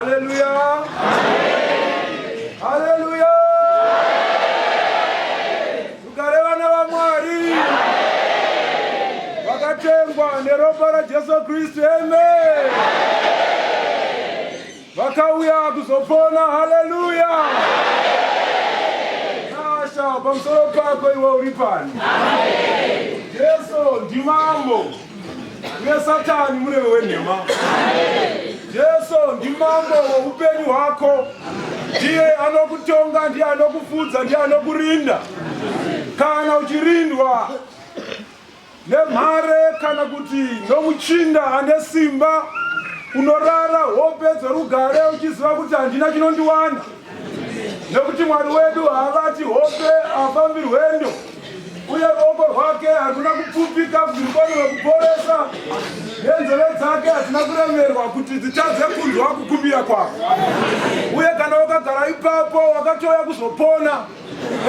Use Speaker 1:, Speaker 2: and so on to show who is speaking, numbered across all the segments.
Speaker 1: Hallelujah. Hallelujah. Tugare vana vaMwari vakatengwa neropa raJesu Kristu. Amen. Vakauya kuzopona. Hallelujah. Nasha pamusoro pako iwe uri pani. Jesu ndimambo. nesatani mureve wenhema jesu ndimambo woupenyu hwako ndiye anokutonga ndiye anokufudza ndiye anokurinda kana uchirindwa nemhare kana kuti nomuchinda ane simba unorara hope dzorugare uchiziva kuti handina chinondiwana nekuti Mwari wedu haabati hope, haafambirwe ndo uye ruoko rwake haruna kupfupika kuti rukwanirwe kuporesa, nenzeve dzake hadzina kuremerwa kuti dzitadze kunzwa kukumbira kwako. Uye kana wakagara ipapo wakatouya kuzopona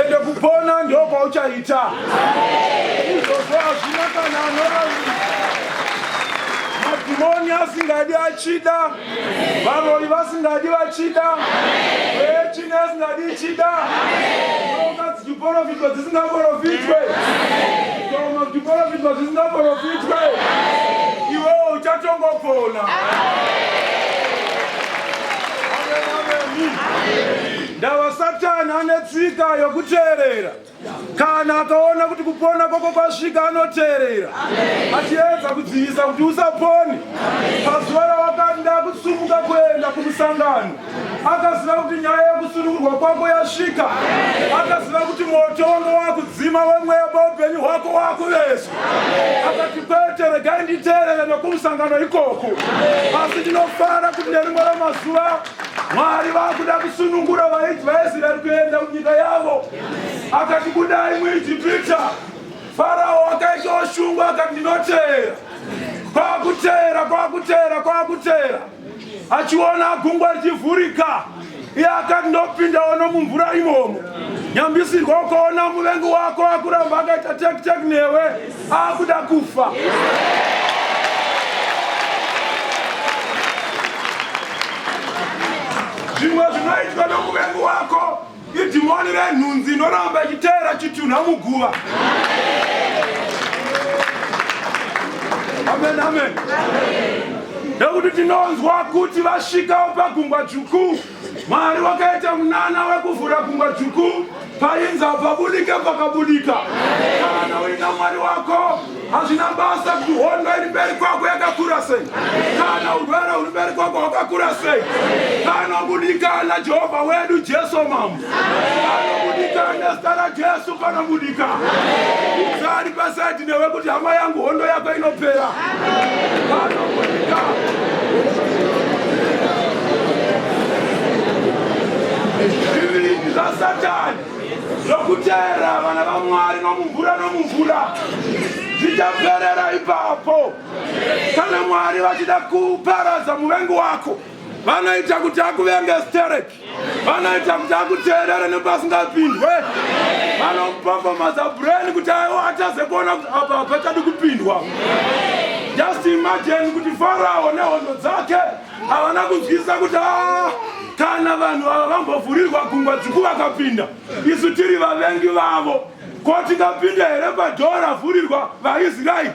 Speaker 1: ende kupona ndo kwauchaita izvozvo hazvina kana anoraira madhimoni asingadi achida varoyi vasingadi vachida echini asingadi ichida oka dzichiporofitwa dzisingaporofitwe koma kuchiporofitwa dzisingaporofitwe iwewo uchatongopona Amen. Amen. Amen. Ndava Satani ane tsika yokuteerera. Kana akaona kuti kupona kwako kwasvika, anoteerera achiedza kudzivisa kuti usapone. Pazuva rawakanda kusumuka kuenda kumusangano, akaziva kuti nyaya yokusunungurwa kwako yasvika. Akaziva kuti moto wanga wakudzima wemweya paupenyu hwako wakuvezwa. Akati, Kwete, regai nditeerere nokumusangano ikoko. Asi ndinofara kuti nerimwe ramazuva Mwari vakuda kusunungura vaIsraeri kuenda kunyika yavo. Akati kudai muIjipita, Farao akaita oshungwa akati ndinoteera. Kwakuteera, kwakuteera, kwakuteera. Achiona gungwa richivhurika. Iye akati ndopinda ono mumvura imomo. Nyambisirwa ukaona muvengi wako akuramba akaita tek tek newe. akuda kufa zvimwe zvinoitwa nomuvengi wako idhimoni renhunzi inoramba ichiteera chitunha muguva amen amen nekuti tinonzwa kuti vasvikawo pagungwa dzvuku Mwari wakaita munana wekuvhura gungwa dzvuku painza pabudike pakabudika. Kana uina Mwari wako hazvina basa kuti hondo iri mberi kwako yakakura sei, kana urwere huri mberi kwako hwakakura sei, kana kudikana Jehovha wedu Jesu Mambo. anobudika nezita rajesu panobudika sari pasaidi newe kuti hama yangu hondo yako inopera panobudika zvivindi zvasatani zvokuteera vana vamwari nomumvura nomumvura zvichaperera ipapo kana mwari vachida kuparadza muvengi wako vanoita kuti akuvenge stereki vanoita kuti akuteerere nemba asingapindwe vanopafamaza brain kuti aiwa ataze kuona kuti apa hapachadi kupindwa just imagine kuti farao nehondo dzake havana kunzwisisa kuti a ah, kana vanhu ava vambovhurirwa gungwa dziku vakapinda isu tiri vavengi vavo Ko tingapinda here padhoo ravhurirwa vaIsraeri?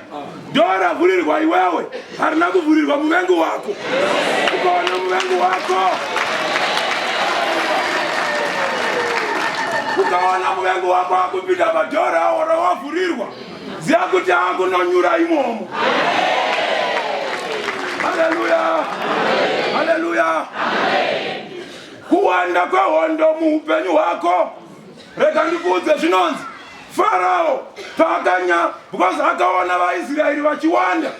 Speaker 1: Dhoo ravhurirwa iwewe harina kuvhurirwa muvengi wako. Ukaona muvengi wako ukaona muvengi wako akupinda padhoo rawo rawavhurirwa, ziva kuti akunonyura imomo. Haleluya, haleluya. Kuwanda kwehondo muupenyu hwako rega ndikuudze zvinonzi farao paakanya because akaona vaisraeri vachiwanda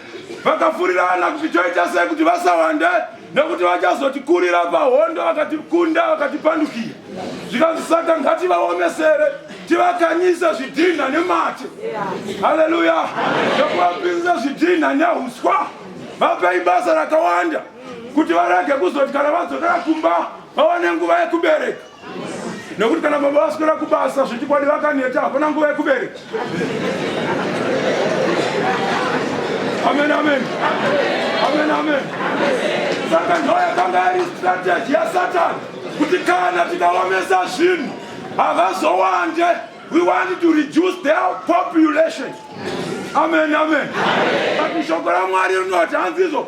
Speaker 1: vakafurirana kuti toita sei kuti vasawande nekuti vachazotikurira pahondo vakatikunda vakatipandukira zvikanzi saka ngativaomesere tivakanyisa zvidhinha nemate haleluya nokuvapinza zvidhinha neuswa vapei basa rakawanda kuti varege kuzoti kana vadzokera kumba vawane nguva yekubereka nekuti kana baba vaswera kubasa zvechikwadi vakaneta hapana nguva yekubereka amen amen amen amen saka ndo yakanga yari strategy yasatani kuti kana tikaomesa zvinhu havazowande we want to reduce their population amen amen but shoko ramwari rinoti hanzi izvo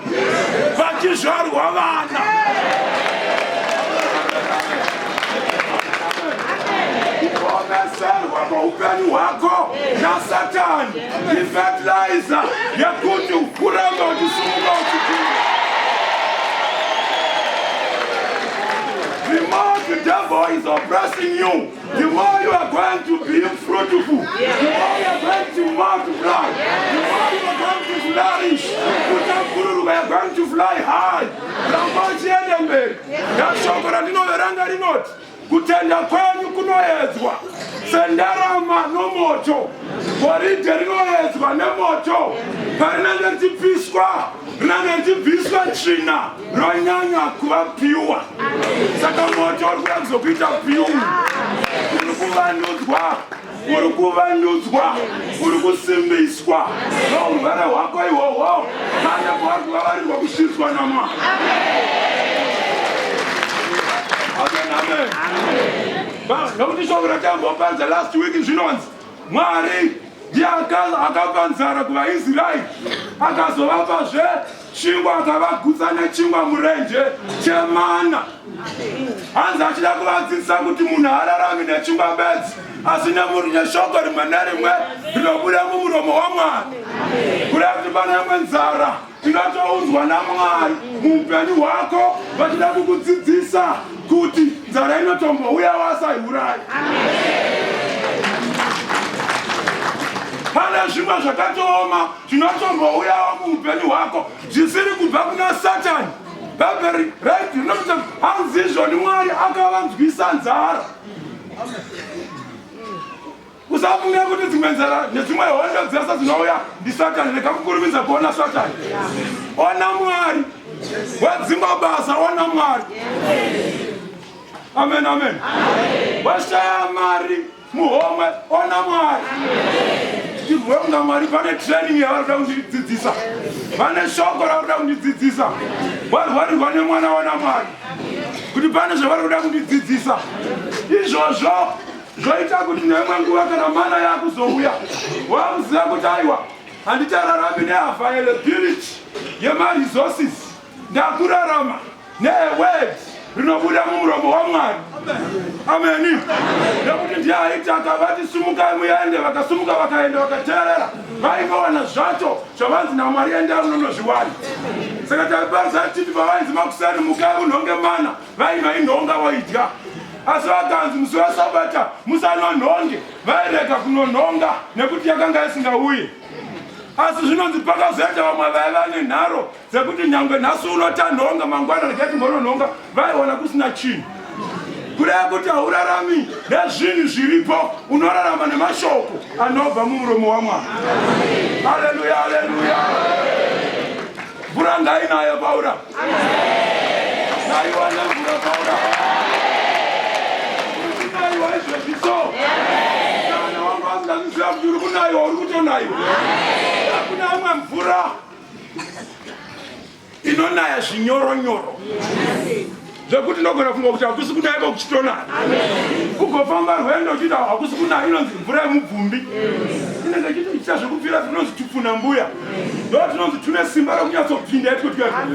Speaker 1: vachizvarwa vana kuomeserwa muupenyu hwako nasatani ifetilizer yekuti ukuramba uchisumuka uchikura remote devil is oppressing you The more you are going to be fruitful, yeah. the more you are going to multiply, yeah. the more you are going to flourish. Kutambururuka, you are going to fly high. Ramba uchienda mberi. Nashoko randinoveranga rinoti kutenda kwenyu kunoedzwa sendarama nomoto, goridhe rinoedzwa nemoto, parinenge richipiswa rinenge richibviswa tsvina. ronyanya kuva piwa saka moto uri kuda kuzokuita piu uri kuvandudzwa uri kuvandudzwa uri kusimbiswa nourwere hwako ihwohwo kana kwavari kuvavarirwa kusvitswa namwa nokuti shoko ratambopanza last week zvinonzi mwari ndiye akapa nzara kuvaisraeri akazovapazve chingwa akavagutsa nechingwa murenje chemana hanzi achida kuvadzidzisa kuti munhu haararami nechingwa bedzi asi nemuri neshoko rimwe nerimwe rinobuda mumuromo wamwari kuda kuti pane imwe nzara inotoudzwa namwari muupenyu hwako vachida kukudzidzisa kuti nzara inotombouya wasaiurayi pane zvimwe zvakatooma zvinotombouyawo muupenyu hwako zvisiri kubva kuna satani bhaibheri raiti rinoti hanzizvoni mwari akavanzwisa nzara usafunge kuti dzimwe nzara nedzimwe hondo dzese dzinouya ndisatani rega kukurumidza kuona satani ona mwari wedzimba basa ona mwari amen amen washaya mari muhomwe ona mwari tirwe kunga mwari pane training yavari kuda kundidzidzisa vane shoko ravari kuda kundidzidzisa warwarirwa nemwana wana mwari kuti pane zvavari kuda kundidzidzisa izvozvo zvoita kuti neimwe nguva kana mana yakuzouya wakuziva kuti aiwa handichararambi neavailability yemaresources ndakurarama neword rinobuda mumuromo wamwari ameni nekuti ndiye aiti akavati sumukai muende vakasumuka vakaenda vakateerera vaivawana zvacho zvavanzi namwari endai munonozviwana saka taiparisa titi pavainzi makuseni mukai unhonge mana vaiva inhonga voidya asi vakanzi musi wesabata musanonhonge vairega kunonhonga nekuti yakanga isingauye asi zvinonzi pakazoenda vamwe vaiva nenharo dzekuti nyangwe nhasi uno tanhonga mangwana regai timbononhonga vaiona kusina chinhu kureva kuti haurarami nezvinhu zviripo unorarama nemashoko anobva mumuromo wamwari aleluya aleluya mvura ngainayo paura ngaiwane mvura paura uiaiwa izvezvi so kana wangu asingazviziva kuti uri kunaiwa uri kutonaiwa akuna amwe mvura inonaya zvinyoro nyoro zvekuti ndogona funga kuti hakusi kunaya ko kuchitonaya kugofamba rwendo uchiita hakusi kunaya inonzi mvura yemubvumbi inenge ichitoita zvekupfira tinonzi tupfuna mbuya ndo tinonzi tune simba rokunyatsobvinda yatikotikaa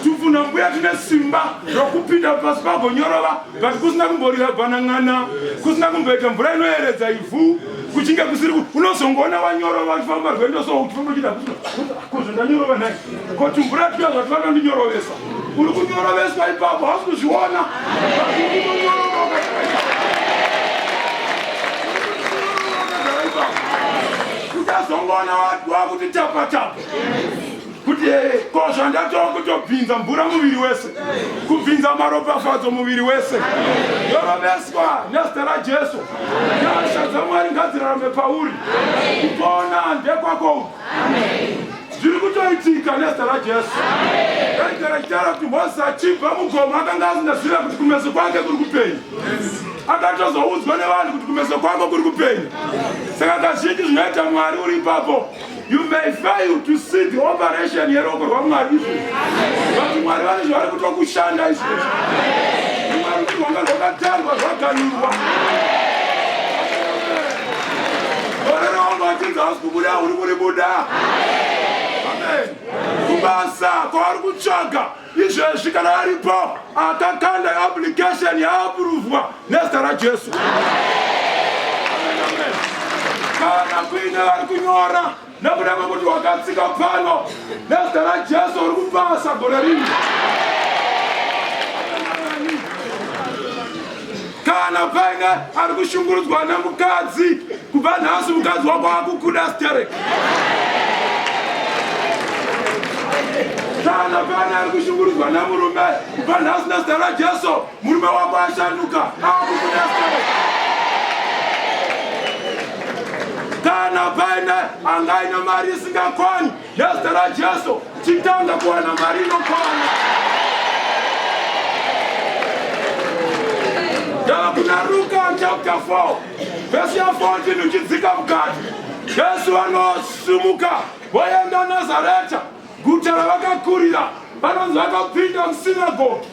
Speaker 1: tupfuna mbuya tine simba rokupinda pasi pagonyorova but kusina kumborira bhanan'ana kusina kumboita mvura inoyeredza ivhu kuchinge kusiri unozongoona wanyorova uchifamba rwendo so uchifamba uchida kozvo ndanyorova nhai ko tumvura tuya zvati vanondinyorovesa uri kunyoroveswa ipapo hausi kuzviona uchazongoona wakuti tapatapa kuti ee ko zvandatova kutobvinza mvura muviri wese kubvinza maropafadzo muviri wese yoroveswa nezita rajesu nyasha dzamwari ngadzirarame pauri kupona ndekwako uku zviri kutoitika nezita rajesu aigara chitaura kuti mozisi achibva mugomo akanga asingazive kuti kumeso kwake kuri kupenya akatozoudzwa nevanhu kuti kumeso kwako kuri kupenya saka kazhinji zvinoita mwari uri ipapo You may fail to see the operation yeroko rwaMwari izvo. But Mwari vane zvavari kuto kushanda izvo. Mwari kuti rwanga rwakatarwa rwaganirwa. Varana wangu vachinzi hausi kubuda uri kuribuda. Amen. Kubasa kwavari kutsvaga izvezvi kana aripo akakanda application yaapuruvwa nezita rajesu kana kuine vari kunyora nekuda kwekuti wakatsika pano nezita rajesu uri kupasa gore rino Kana paine ari kushungurudzwa nemukadzi, kubva nhasi mukadzi wako akukuda sterek. Kana paine ari kushungurudzwa nemurume, kubva nhasi nezita raJesu, murume wako ashanduka, akukuda sterek. Kana paine angaine mari isingakwani Nezita raJesu chitanga kuwana mari inokwana. Ndava kuna Luka chapter 4 vhesi ya 14 uchidzika mukati. Jesu vanosimuka voenda Nazareta, guta ravakakurira. Vanonzi vakapinda musinagogi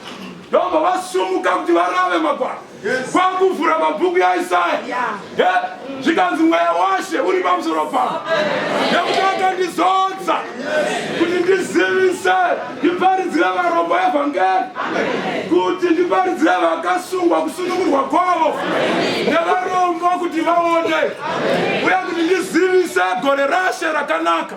Speaker 1: ndobva vasumuka kuti varave magwaro kwakuvhura mabhuku yaisaya zvikanzi mweya washe uri pamusoro pavo nekuti akandizodza kuti ndizivise ndiparidzire varombo evhangeri kuti ndiparidzire vakasungwa kusunungurwa kwavo nevarombo kuti vaone uye kuti ndizivise gore rashe rakanaka